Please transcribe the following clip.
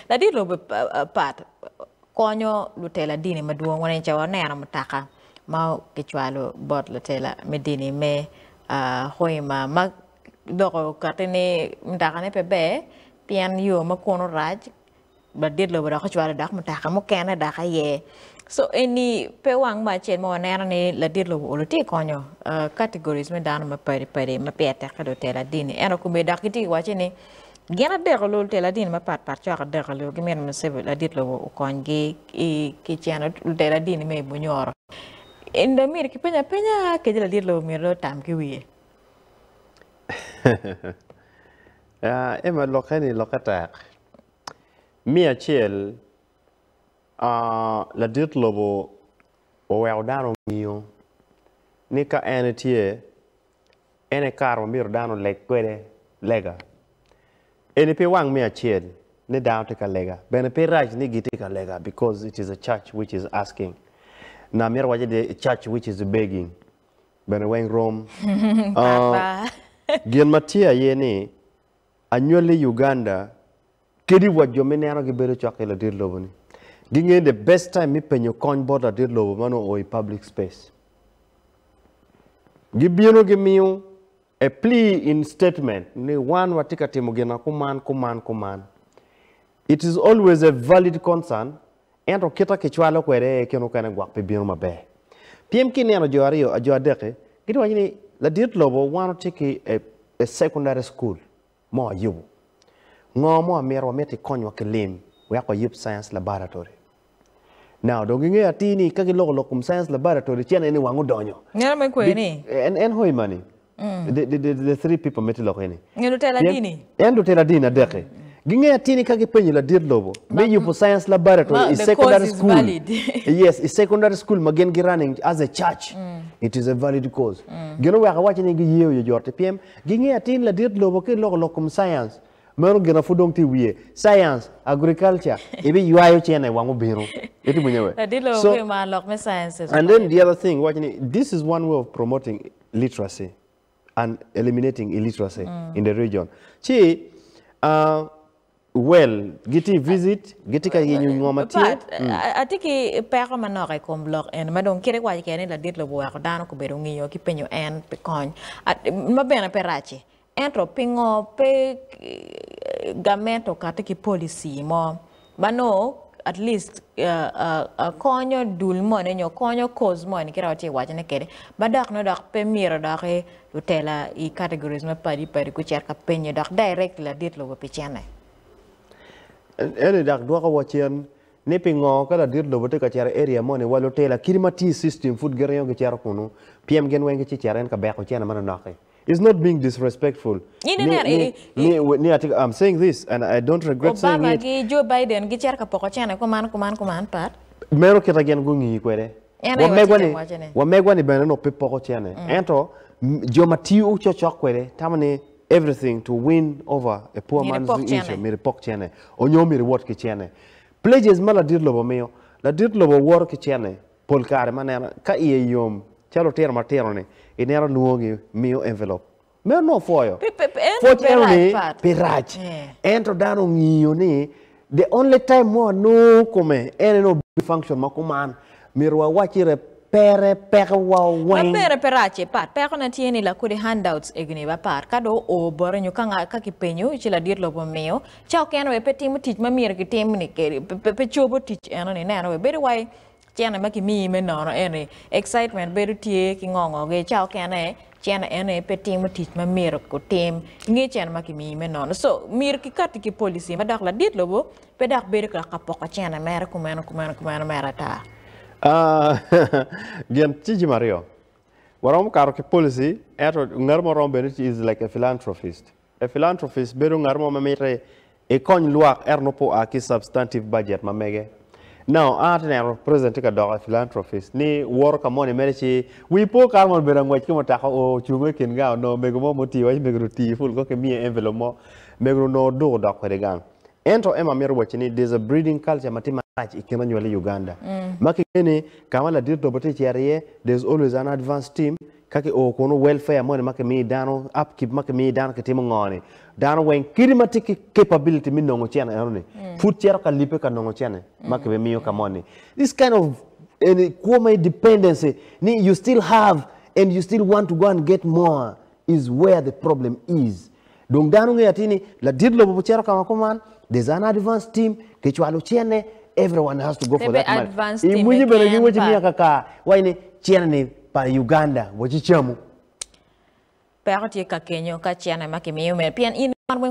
Ladit lobo pat konyo lutela dini madwong. Wanene ca waneno mutoka ma kicwalo bot lutela me dini me Hoima ma dok okati ni mutokane pe ber pien yo ma kunu rac. Ladit lobo dok ocwalo dok mutoka mukene dok aye. So eni pe wang me acel ma waneno ni ladit lobo olo tye ka konyo categories me dano mapadi padi ma pire tek ki lutela dini. Ento komedok gitye ka wacce ni Gin adek olul tela dini mapat pat cok adek olul gimito Musevi ladit lobo okony gi ki ceno tela dini me Bunyoro. In dong myero ki penya penya kadi ladit lobo myero dong otam ki wiye. Emma lokke ni lokke tek. Me acel ladit lobo oweko dano ngiyo ni ka en etye En aye kare ma myero dano oleg kwede lega. Eni pi wang me acel ni dano tye ka lega, bene pe rac ni gitye ka lega because it is a church which is asking. Na myero wace ni a church which is begging bene weng rom. Gin ma tye aye ni anywali Uganda Kadi wa jo ma ineno gibedo cok ki ladit lobo ni gingeyo the best time me penyo kony bot ladit lobo ma nongo oo i public space. Gibino gimiyo a plea in statement ni wan watye ka timo gina kuman kuman kuman. It is always a valid concern ento kita kicwalo kwede aye kene okene gwok pe bino maber. Pien ka ineno jo aryo jo adek-ki gitye ka waco ni ladit lobo wan watye ki a secondary school. mo ayubo? Ngo mo amito wamit i konywa ki lim wek wayub science laboratory? Now dong gingeyo atir ni ka giloko lok kom science laboratory cen aye ni wang odonyo. Ngeno me kwe ni? En en hoi mani. The, the, the, the three people miti loko ini. Nge lutela Pien dini. en lutela dini adeki gingeyo atir ni ka gipenyo ladit lobo me Ma- yubo science laboratory ma- i the secondary cause is school valid. yes i secondary school ma gin gi running as a church it is a valid cause gin oweko awaci ni giyeyo yo jor te pyem Ginge atin ladit lobo ki loko lok kom science. Meno gina pud dong tye i wiye. Science, agriculture, ibiywayo cene wang obino. Iti winye we? Ladit lobo So, pe mar lok me science and then the other thing waco ni this is one way of promoting literacy and eliminating illiteracy in the region. Ci, ah, Well, gitye i visit, gitye ka yenyo ngo ma tye. Pat, a- atye ki peko manok i kom lok eni ma dong kit iwaco keken ni ladit lobo weko dano gubedo ngiyo ki penyo en pi kony. A- Ma bene pe rac-ci. Ento pingo pe eh, gament okati ki policy mo ma nongo at least ah, ah, ah, konyo dul moni nyo konyo cause moni kit ma watye ka wacone kwede ma dok nongo dok pe myero doki Lutela i categories mapadi padi gucito ka penye dok direct ladit lobo pi cene. Eni dok dwoko wa cen ni pingo ka ladit lobo tye ka cito i area moni wa lutela kit ma tye i system pud giringo gicito kunu pyem gin weng gici cito en ka beko cene manonok i. It's not being disrespectful Ni ni ni ni ni atye ka I'm saying this and I don't regret saying Obama it. gi Joe Biden gicito ka poko cene kuman kuman kuman pat. Meno kita gin gungi kwede Wamegwa-ni bene onongo pe poko cene, ento jo ma tiyo cokcok kwede tamo ni everything to win over a poor man's issue myero ipok cene onyo myero iwot ki cene. Pledges ma ladit lobo miyo, ladit lobo woto ki cene pol kare ma neno ka iye yom calo lutino matino-ni ineno lwongo-gi miyo envelope Me onongo pwoyo. Pwoc eno ni pe rac. Ento dano ongiyo ni the only time ma wanongo kome en en obedo function ma kuman. Myero wawac ire pere peko wa weng. Ma pere pe rac e pat. Peko ne tye ni lakodi handouts egni ba pat ka do o boti nyo ka nga ka ki penyo ci ladit lobo omiyo ca okene wek pe timo tic ma myero ki tim ni kedi pe cobo tic eno ni neno wek bedo wai Cene ma kimiyi me nono eni, excitement bedo tye ki ngo ngo ge ca okene cene eni pe timo tic ma myero ku tim inge cene ma kimiyi me nono so myero ki kati ki policy ma dok ladit lobo pe dok bedo dok ka poko cene mere kumeno kumeno kumeno mere ata. Gin tye jami aryo, waromo kato ki policy ento ngat mo romo bedo is like a philanthropist. A philanthropist bedo ngat mo ma miti ikony lwak ento nongo pe oa ki substantive budget ma mege. Now, an atye neno president tye ka doko a philanthropist ni woto ka moni mere ci wi po kare moni obedo angwec ki mutoka oo ocungo i kin gang onongo mego mo mutii waci mego-ni otii ful kong kimiye envelope mo mego-ni onongo oduk odok kwede gang. Ento Emma mito wacci ni there's a breeding culture ma tye marac i kin anywali i Uganda ma kingeyo ni ka ma ladit lobo tye ka cito iye there's always an advance team Ka ki oo kunu welfare moni ma ki miyo dano, up keep ma ki miyo dano ki timo ngo ni? Dano weng kadi ma tye ki capability me nongo cen eno ni pud cito ka lipe ka nongo cene ma ki be miyo ka moni. This kind of eni kwo ma dependency ni you still have and you still want to go and get more is where the problem is. Dong dano ngeyo atir ni ladit lobo pe cito kama kuman. There's an advance team kicwalo cene everyone has to go for that money. I mwinyo bene gi waci miya kaka waci ni cene ni pa Uganda waci camu. Peko tye kakenyo ka cene ma kimiyo mere pien in imarre.